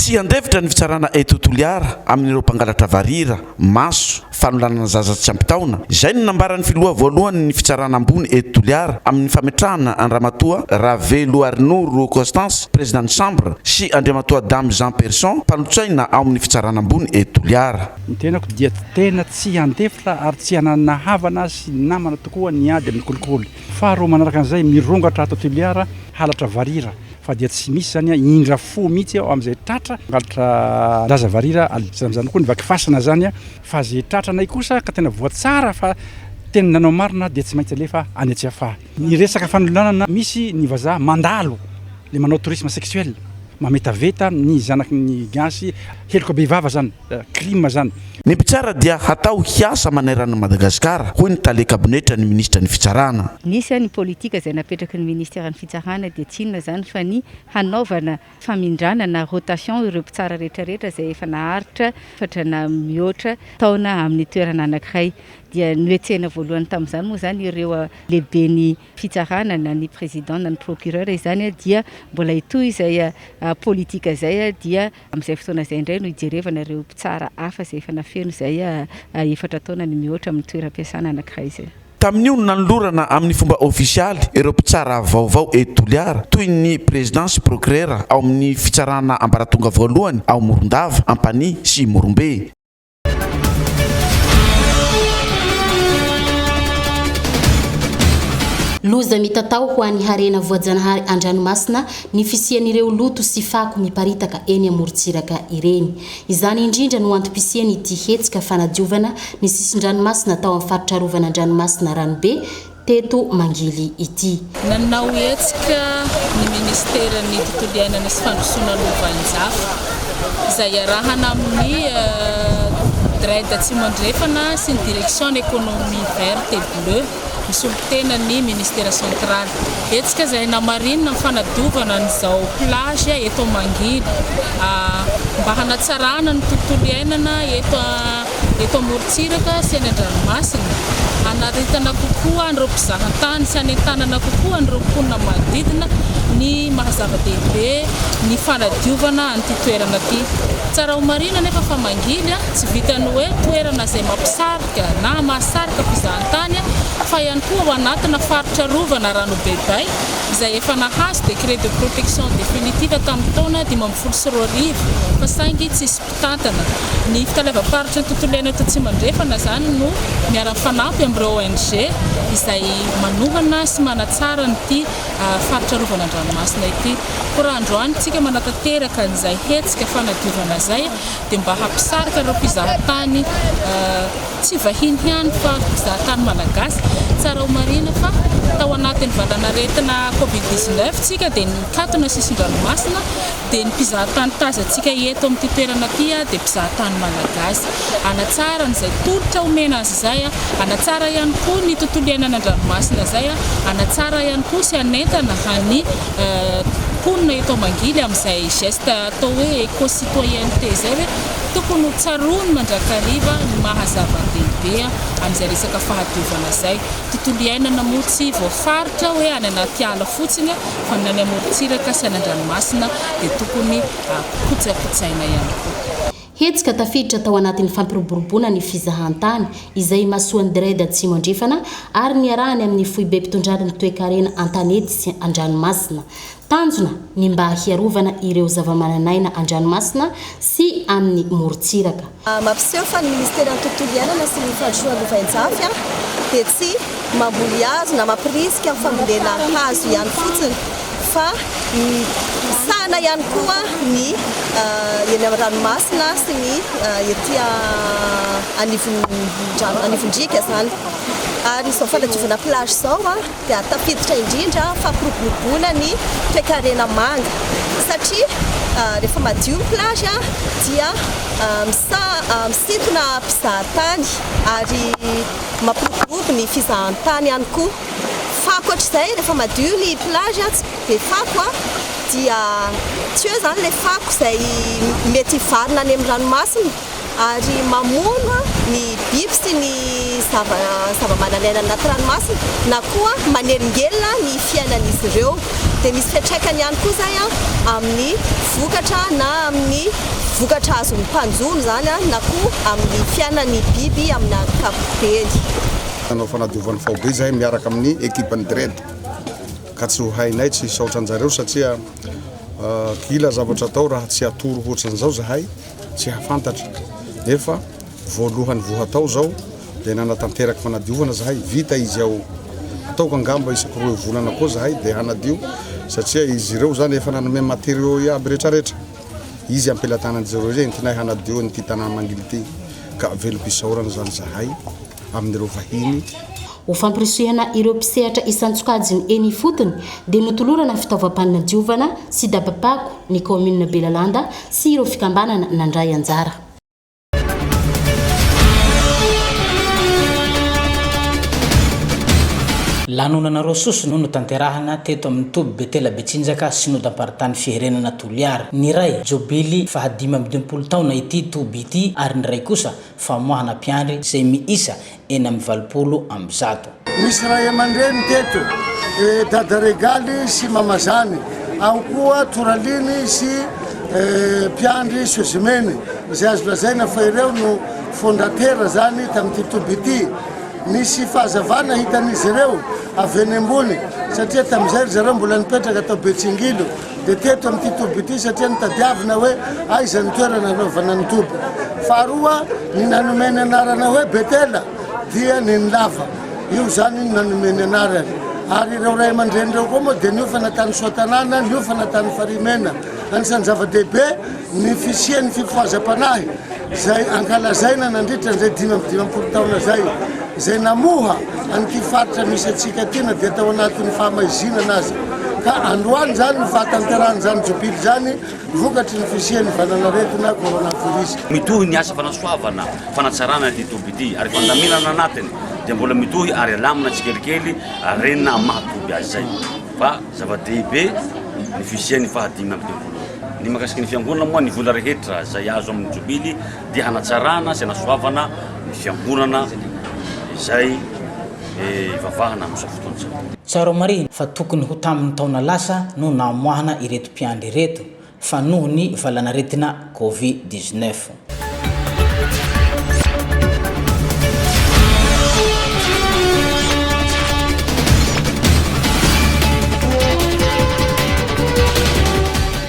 Tsy handefitra ny fitsarana eto Toliara amin'ireo mpangalatra varira, maso, fanolanana zaza tsy ampy taona. Izay no nambaran'ny filoha voalohan'ny fitsarana ambony eto Toliara amin'ny fametrahana an-dRamatoa Raveloarinoro Constance, prezidan'ny Chambre, sy Andriamatoa Damy Jean Person, mpanotsaina ao amin'ny Fitsarana Ambony eto Toliara. Ny tenako dia tena tsy handefitra ary tsy hananana havana sy namana tokoa ny ady amin'ny kolikoly. Faharoa manaraka an'izay, mirongatra ato Toliara halatra varira fa dia tsy misy izany an, indra fo mihitsy aho amin'izay tratra hangalatra zaza varira al, tsy amin'izany koa ny vaky fasana izany an, fa izay tratranay kosa ka tena voatsara fa tena nanao marina dia tsy maintsy alefa any Tsiafahy. Ny resaka fanolanana misy ny vazaha mandalo le manao tourisme sexuel mametaveta ny zanaky ny gasy heloka bevava zany crime zany. Ny mpitsara dia hatao hiasa manerana an'i Madagasikara, hoy ny tale kabinetra ny minisitra ny fitsarana. Nisy ny politika izay napetraky ny ministeran'ny fitsarana dia tsy inona izany fa ny hanaovana famindrana na rotation ireo mpitsara rehetrarehetra izay efa naharitra efatra na mihoatra taona amin'ny toerana anankiray. Dia nohetsehina voalohany tamin'izany moa izany ireo lehiben'ny fitsarana na ny président na ny procureur izany dia mbola hitohy izay politika izay dia amin'izay fotoana izay indray no hijerevana ireo mpitsara hafa izay efa nafeno izay efatra taona ny mihoatra amin'ny toeram-piasana anankiray izay. Tamin'io no nanolorana amin'ny fomba ofisialy ireo mpitsara vaovao eto Toliara toy ny prezidà sy prokirera ao amin'ny fitsarana ambaratonga voalohany ao Morondava, Ampanihy sy Morombe. Loza mitatao ho an'ny harena voajanahary an-dranomasina ny fisian'ireo loto sy fako miparitaka eny amorontsiraka ireny. Izany indrindra no antom-pisian' ity hetsika fanadiovana ny sisin-dranomasina tao amin'ny faritra arovan' an-dranomasina Ranobe teto Mangily ity. Nanao hetsika ny Ministeran' ny Tontolo iainana sy Fandrosoana Lovainjafy, izay iarahana amin'ny DREDD Atsimo Andrefana sy ny Direction Economie Verte et Bleue, Misolo tena ny Ministera Centraly. Hetsika izay namarinina ny fanadiovana an'izao plage eto Mangily. Mba hanatsarana ny tontolo iainana eto amorontsiraka sy eny an-dranomasina. Hanaritana kokoa an'ireo mpizaha tany sy hanentanana kokoa an'ireo mponina manodidina ny maha zava-dehibe ny fanadiovana an'ity toerana ity. Tsara homarihina anefa fa Mangily tsy vitan'ny hoe toerana izay mampisara Madagasikara na mahasarika mpizahan-tany fa ihany koa ao anatina faritra arovana Ranobeday izay efa nahazo décret de protection définitive tamin'ny taona dimy ambin'ny folo sy roa arivo fa saingy tsisy mpitantana. Ny fitaleavam-paritry ny tontolo iaina eto Atsimo-Andrefana izany no miara-mifanampy amin'ireo ONG izay manohana sy manatsara an'ity faritra arovana an-dranomasina ity. Koa raha androany isika manatanteraka an'izay hetsika fanadiovana izay dia mba hampisarika ireo mpizahatany tsy vahiny ihany fa mpizahatany malagasy. Tsara ho marihina fa tao anatin'ny valanaretina Covid 19 tsika dia nikatona sisin-dranomasina dia ny mpizahatany tazantsika eto amin'ity toerana ity dia mpizahatany malagasy. Hanatsara an'izay tolotra omena azy izay, hanatsara ihany koa ny tontolo iainana an-dranomasina izay, hanatsara ihany koa sy hanentana ny mponina eto Mangily amin'izay geste atao hoe éco-citoyenneté izay hoe tokony ho tsaroany mandrakariva ny maha zava-dehibe an'izay resaka fahadiovana izay. Tontolo iainana moa tsy voafaritra hoe any anaty ala fotsiny fa ny any amorontsiraka sy any an-dranomasina dia tokony hotsakotsahina ihany koa. Hetsika tafiditra tao anatin'ny fampiroboroboana ny fizahantany izay imasoan'ny DREDD Atsimo Andrefana ary niarahany amin'ny Foibem-pitondran'ny Toekarena an-tanety sy an-dranomasina. Tanjona ny mba hiarovana ireo zavamananaina an-dranomasina sy amin'ny morontsiraka. Mampiseho fa ny Ministeran'ny Tontolo Iainana sy ny Fandrosoana Lovainjafy dia tsy mamboly hazo na mampirisika ny fambolena hazo ihany fotsiny fa misahana ihany koa ny eny amin'ny ranomasina sy ny ety anivon-driaka izany. Ary izao fanadiovana plage izao. dia tafiditra indrindra fampiroboroboana ny toekarena manga satria rehefa madio ny plage dia misintona mpizahatany ary mampiroborobo ny fizahantany ihany koa fa ankoatr'izay rehefa madio ny plage tsy be fako dia tsy eo izany ilay fako izay mety hivarina any amin'ny ranomasina ary mamono ny biby sy ny zava-manan'aina any anaty ranomasina na koa manelingelina ny fiainan'izy ireo. Dia misy fiantraikany ihany koa izay amin'ny vokatra na amin'ny vokatra azon'ny mpanjono izany na koa amin'ny fiainan'ny biby amin'ny ankapobeny. Nanao fanadiovana faobe izahay miaraka amin'ny ekipan'ny DREDD ka tsy ho hainay tsy hisaotra anjareo satria kila zavatra atao raha tsy atoro hoatran'izao izahay. tsy hahafantatra nefa voalohany voa hatao izao dia nanatanteraka fanadiovana zahay vita izy ao ataoko angamba isaky roa volana koa zahay dia hanadio satria izy ireo zany efa nanome matériaux iaby retraretra izy ampelatanan'izy ireo izay entinay hanadio an'ity tanàna mangily ity ka velom-pisaorana zany zahay amin'ireo vahiny. Ho fampirisihana ireo mpisehatra isan-tsokajiny eny ifotony dia notolorana fitaovam-panadiovana sy daba-pako ny kaominina Belalanda sy ireo fikambanana nandray anjara. Lanonana roa soso no notanterahana teto amin'ny toby Betela Betsinjaka Synodam-paritany Fiherenana Toliara. Ny iray, Jobily fahadimy amby dimampolo taona ity toby ity ary ny iray kosa, famoahana mpiandry izay miisa enina amby valopolo amby zato. Misy ray aman-dreny teto, Dada Regaly sy Mama Zany, ao koa Toraliny sy mpiandry Sozimeny, izay azo lazaina fa ireo no fondatera izany tamin'ity toby ity. Nisy fahazavana hitan'izy ireo avy eny ambony, satria tamin'izay ry zareo mbola nipetraka tao Betsingilo. Dia teto amin'ity toby ity satria notadiavina hoe aiza ny toerana hanaovana ny toby. Faharoa, ny nanome ny anarana hoe Betela dia neny lava. Io izany no nanome ny anarany. Ary ireo ray aman-dreny ireo koa moa dia niofana tany Soatanàna, niofana tany Farimena. Anisan'ny zava-dehibe. Ny fisian'ny fifohazam-panahy izay ankalazaina nandritra an'izay dimy amby dimampolo taona izay, izay namoha an'ity faritra misy antsika ity na dia tao anatin'ny fahamaizinana aza. Ka androany izany no fahatanterahan'izany Jobily izany vokatry ny fisian'ny valanaretina Coronavirus. Mitohy ny asa fanasoavana, fanatsarana ity toby ity ary fandaminana anatiny dia mbola mitohy ary alamina tsikelikely ary renina amin'ny maha toby azy izay fa zava-dehibe ny fisian'ny fahadimy amby dimampolo. Ny mahakasika ny Fiangonana moa ny vola rehetra izay azo amin'ny Jobily dia hanatsarana sy hanasoavana ny Fiangonana izay ivavahana amin'izao fotoana izao. Tsara marihina fa tokony ho tamin'ny taona lasa no namoahana ireto mpiandry ireto fa noho ny valanaretina Covid dix neuf.